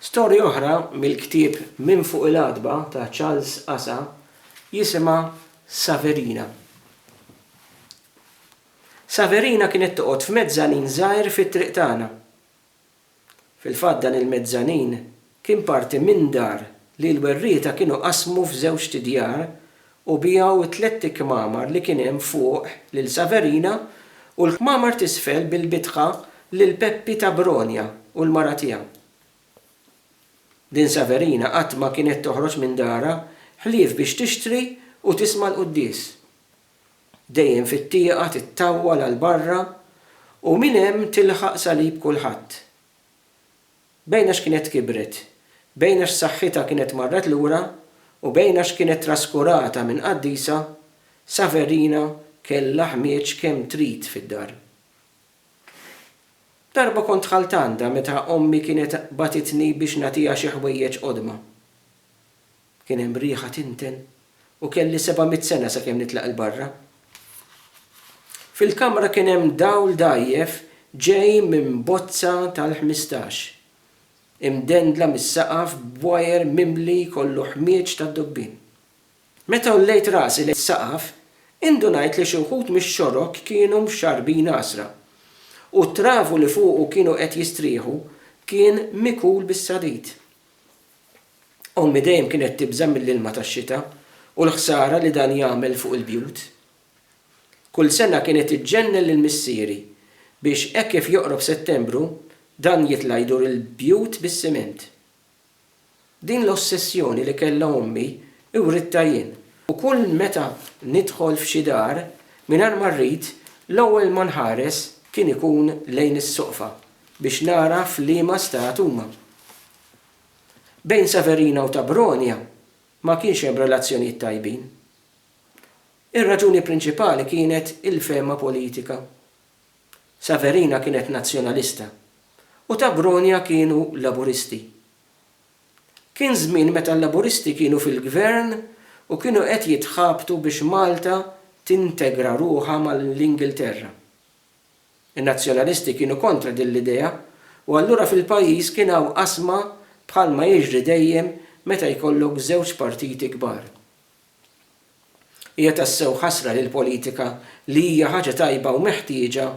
Storja oħra mill-ktieb Minn Fuq il-Għatba ta' Charles Asa jisimha Saverina. Saverina kienet toqgħod f'mezzanin żgħir fit-triq tagħna. Fil-fatt dan il-mezzanin Kien parti minn dar li l-werrieta kienu qasmu f'żewġt djar u biegħu t-tlett ikmamar li kien hemm fuq lil Saverina u l-kmamar t'isfel bil-bitħa lil Peppi ta' Bronia u l-mara tiegħu. Din Saverina qatt ma kienet toħroġ minn darha ħlief biex tixtri u tisma' l-quddies. Dejjem fit-tieqa tittawwal għal barra u minn hemm tilħaq salib kulħadd. Bejn għax kienet kibret, bejn għax saħħitha kienet marret lura u bejn għax kienet traskurata minn qaddisa, Saverina kellha ħmieġ kemm trid fid-dar. Darba kont dħalt għandha meta ommi kienet bagħtitni biex nagħtiha xi ħwejjeġ qodma. Kien hemm riħa tinten u kelli seba' mitt sena sakemm nitlaq 'il barra. Fil-kamra kien hemm dawl dgħajjef ġej minn bozza tal-ħmistax, imdendla mis-saqaf b'wajer mimli kollu ħmieġ tad-dubbien. Meta għollejt rasi lejn is-saqaf, indunajt li xi wħud mix-xorok kienu mxarrbin għasra, u t-travu li fuqu kienu qed jistrieħu kien mikul bis-sadid. Ommi dejjem kienet tibża' mill-ilma tax-xita u l-ħsara li dan jagħmel fuq il-bjut. Kull sena kienet iġġenn lil missieri biex hekk kif joqrob Settembru dan jitla' jdur il-bjut bis-siment. Din l-ossessjoni li kellha ommi writtha jien. U kull meta nidħol f'xi dar, mingħajr ma rrid, l-ewwel ma nħares kien ikun lejn is-soqfa biex nara f'liema stat huma. Bejn Severina u Tabronia ma kienx hemm relazzjonijiet tajbin. Ir-raġuni prinċipali kienet il-fehma politika. Severina kienet Nazzjonalista u Tabronia kienu Laburisti. Kien żmien meta l-Laburisti kienu fil-Gvern u kienu qed jitħabtu biex Malta tintegra ruħha mal-Ingilterra. In-Nazzjonalisti kienu kontra din l-idea u allura fil-pajjiż kien hawn qasma bħalma jiġri dejjem meta jkollok żewġ partiti kbar. Hija tassew ħasra li l-politika li hija ħaġa tajba u meħtieġa,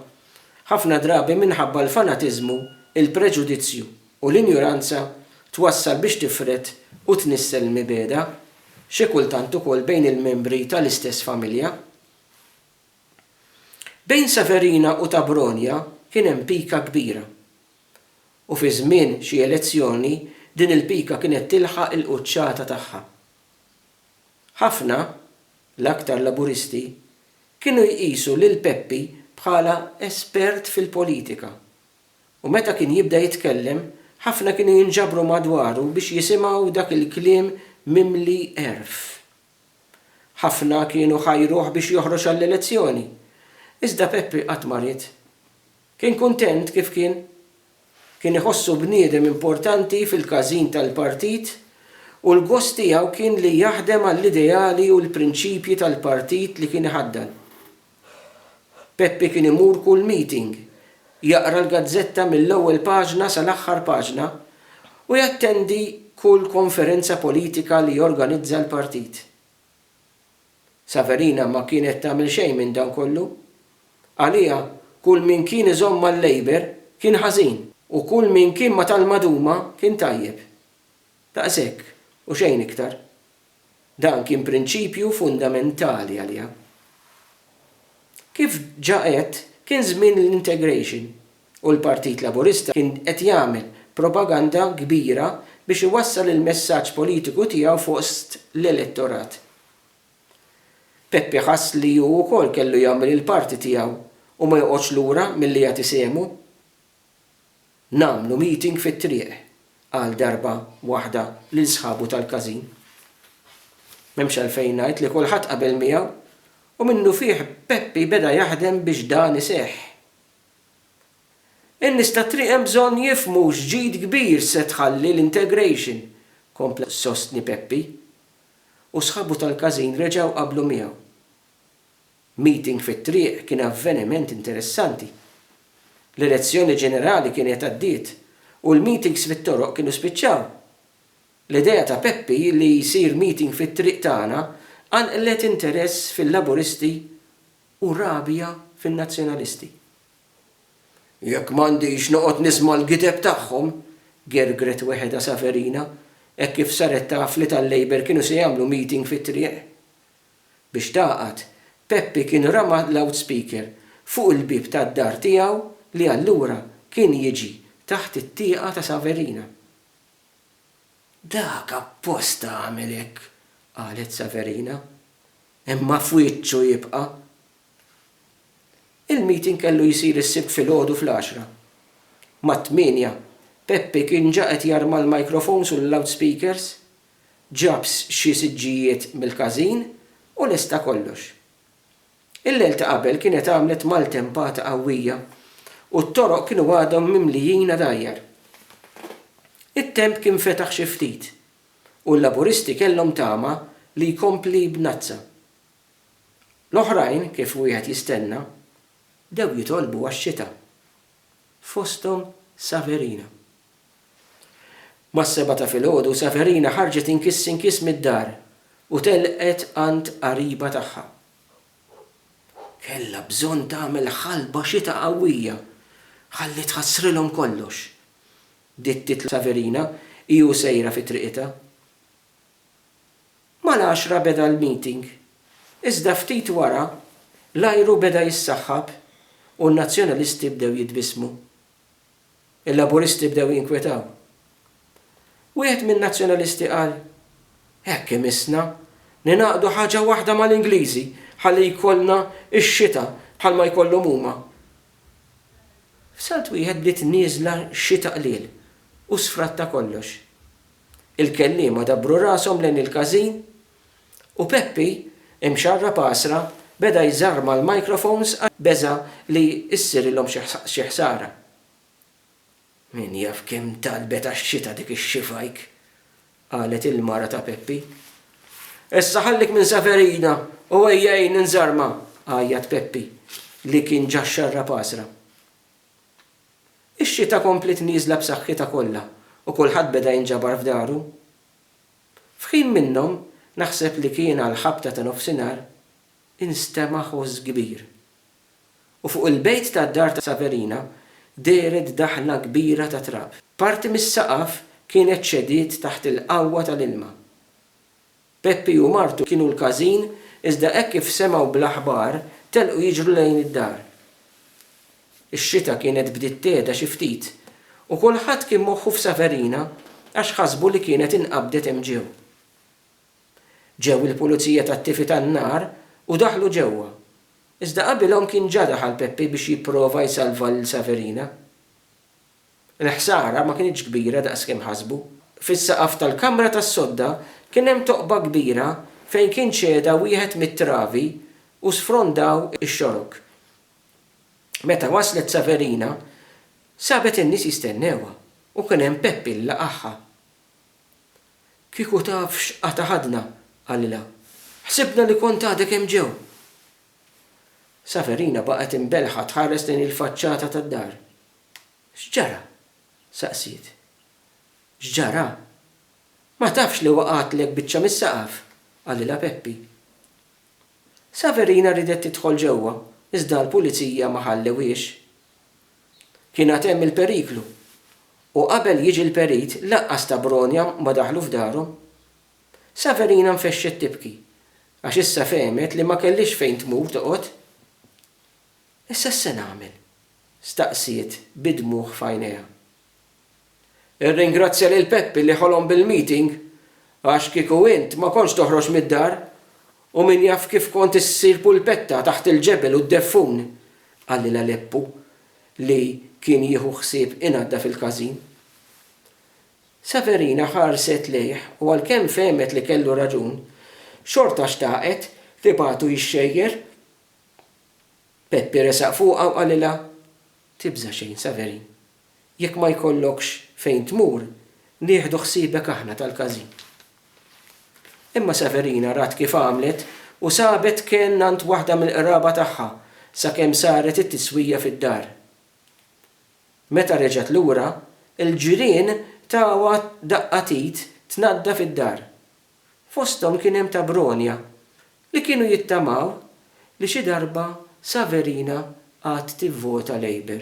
ħafna drabi minħabba l-fanatiżmu, il-preġudizzju u l-injuranza twassal biex tifred u tnissel l-mibegħda, xi kultant ukoll bejn il-membri tal-istess familja. Bejn Severina u Tabronia kien hemm pika kbira. U fi żmien xi elezzjoni din il-pika kienet tilħaq il-quċċata tagħha. Ħafna, l-aktar Laburisti, kienu jqisu lil Peppi bħala espert fil-politika u meta kien jibda jitkellem ħafna kienu jinġabru madwaru biex jisimgħu dak il-kliem mimli għerf. Ħafna kienu ħajruh biex joħroġ għall-elezzjoni. Iżda Peppi qatt ma ried. Kien kuntent kif kien. Kien iħossu bniedem importanti fil-każin tal-Partit u l-gost tiegħu kien li jaħdem għall-ideali u l-prinċipji tal-Partit li kien iħaddan. Peppi kien imur kull meeting, jaqra l-gazzetta mill-ewwel paġna sal-aħħar paġna u jattendi kull konferenza politika li jorganizza l-partit. Saverina ma kienet tagħmel xejn minn dan kollu. Għaliha kull min kien iżomm mal-Labour kien ħażin u kull min kien ma' tal-maduma kien tajjeb. Daqshekk u xejn iktar. Dan kien prinċipju fundamentali għaliha. Kif ġa għedt, kien żmien l-integration u l-Partit Laburista kien qed jagħmel propaganda kbira biex iwassal il-messaġġ politiku tiegħu fost l-elettorat. Peppi ħass li hu wkoll kellu jagħmel il-parti tiegħu u ma joqgħodx lura milli jagħti sehmu. Nagħmlu meeting fit-triq, qal darba waħda lil sħabu tal-każin. M'hemmx għalfejn ngħid li kulħadd qabel miegħu u minnufih Peppi beda jaħdem biex dan iseħħ. In-nies tat-triq hemm bżonn jifhmu x'ġid kbir se tħalli l-integration, kompla jsostni Peppi. U sħabu tal-każin reġgħu qablu miegħu. Meeting fit-triq kien avveniment interessanti. L-elezzjoni ġenerali kienet għaddiet u l-meetings fit-toroq kienu spiċċaw. L-idea ta' Peppi li jsir meeting fit-triq tagħna qanqlet interess fil-Laburisti u rabja fin-Nazzjonalisti. Jekk m'għandix noqgħod nisma' l-gideb tagħhom! gergret weħedha Saverina hekk kif saret taf li tal-Labour kienu se jagħmlu meeting fit-triq. Biex tagħqad, Peppi kien rama loudspeaker fuq il-bieb tad-dar tiegħu li allura kien jiġi taħt it-tieqa ta' Saverina. Dak apposta għamel hekk, qalet Saverina. Imma f'wiċċu jibqa'. Il-meeting kellu jsir is-Sibt filgħodu fl-għaxra. Mat-tmienja, Peppi kien ġa qed jarma l-microphones u l-loudspeakers. ġab xi siġġijiet mill-każin u lesta kollox. Il-lejl ta' qabel kienet għamlet maltempata qawwija u t-toroq kienu għadhom mimlijin għadajjar. It-temp kien fetaħ xi ftit u l-Laburisti kellhom tama li jkompli b'nazza. L-oħrajn, kif wieħed jistenna, bdew jitolbu għax-xita. fosthom Saverina. Mas-sebgħa ta' filgħodu Saverina ħarġet inkiss inkiss mid-dar u telqet għand qariba tagħha. Kellha bżonn tagħmel ħalba xita qawwija ħalli tħassrilhom kollox, dittit Saverina hi u sejra fi triqitha. Mal-għaxra beda l-meeting, iżda ftit wara l-ajru beda jissaħħab u n-Nazzjonalisti bdew jitbissmu. Il-Laburisti bdew jinkwetaw. Wieħed min-Nazzjonalisti qal, Hekk imissna li nagħqdu ħaġa waħda mal-Ingliżi ħalli jkollna x-xita bħalma jkollhom huma. F'salt wieħed bdiet nieżla xita qliel u sfratta kollox. Il-kelliema dabbru rashom lejn il-każin u Peppi, imxarrab għasra, beda jżarma l-microphones għax beża' li issirilhom xi ħsara. Min jaf kemm talbet għax-xita dik ix-xifajk! qalet il-mara ta' Peppi. Issa ħallik minn Saverina u ejja għinni nżarma! għajjat Peppi li kien ġa xxarrab għasra. Ix-xita kompliet nieżla b'saħħitha kollha u kulħadd beda jinġabar f'daru. F'ħin minnhom, naħseb li kien għall-ħabta ta' nofsinhar, instema' ħoss kbir. U fuq il-bejt tad-dar ta' Saverina dehret daħla kbira ta' trab. Parti mis-saqaf kienet ċediet taħt il-qawwa tal-ilma. Peppi u martu kienu l-każin iżda hekk kif semgħu bl-aħbar telqu jiġru lejn id-dar. Ix-xita kienet bdiet tehda xi ftit u kulħadd kien moħħu f'Saverina għax ħasbu li kienet inqabdet hemm ġew. Ġew il-pulizija tat-tifi tan-nar u daħlu ġewwa. Iżda qabilhom kien ġa daħal Peppi biex jipprova jsalva lil Saverina. Il-ħsara ma kinitx kbira daqs kemm ħasbu. Fis-saqaf tal-kamra tas-sodda kien hemm toqba kbira fejn kien ċeda wieħed mit-travi u sfrondaw ix-xorok. Meta waslet Saverina, sabet in-nies jistennewha u kien hemm Peppi li laqagħha. Kieku taf x'qata' ħadna, qalilha. Ħsibna li kont għadek hemm ġew! Saverina baqgħet imbelħa tħares lejn il-faċċata tad-dar. X'ġara? saqsiet. X'ġara? Ma tafx li waqgħatlek biċċa mis-saqaf? qalilha Peppi. Saverina riedet tidħol ġewwa iżda l-pulizija ma ħallewhiex. Kien għad hemm il-periklu u qabel jiġi l-perit lanqas ta' bronja ma daħlu f'darhom. Saverina nfexxet tibki għax issa fehmet li ma kellhiex fejn tmur toqgħod. Issa x'se nagħmel? staqsiet bi dmugħ f'għajnejha. Irringrazzja lil Peppi li ħolom bil-meeting għax kieku int ma kontx toħroġ mid-dar u min jaf kif kont issir pulpetta taħt il-ġebel u d-deffun, qalilha Leppu li kien jieħu ħsieb inaddaf il-każin. Severina ħarset lejh u għalkemm fehmet li kellu raġun, xorta xtaqet tibgħatu jxejjer Peppi resaq fuqha u qalilha, Tibża' xejn, Saverin. Jekk ma jkollokx fejn tmur, nieħdu ħsiebek aħna tal-każin. Imma Saverina rat kif għamlet u sabet kenn għand waħda mill-qraba tagħha sakemm saret it-tiswija fid-dar. Meta reġgħet lura, il-ġirien tawha daqqa t'id tnaddaf id-dar Fosthom kien hemm ta' Bronia li kienu jittamaw li xi darba Saverina għad tivvota Labour.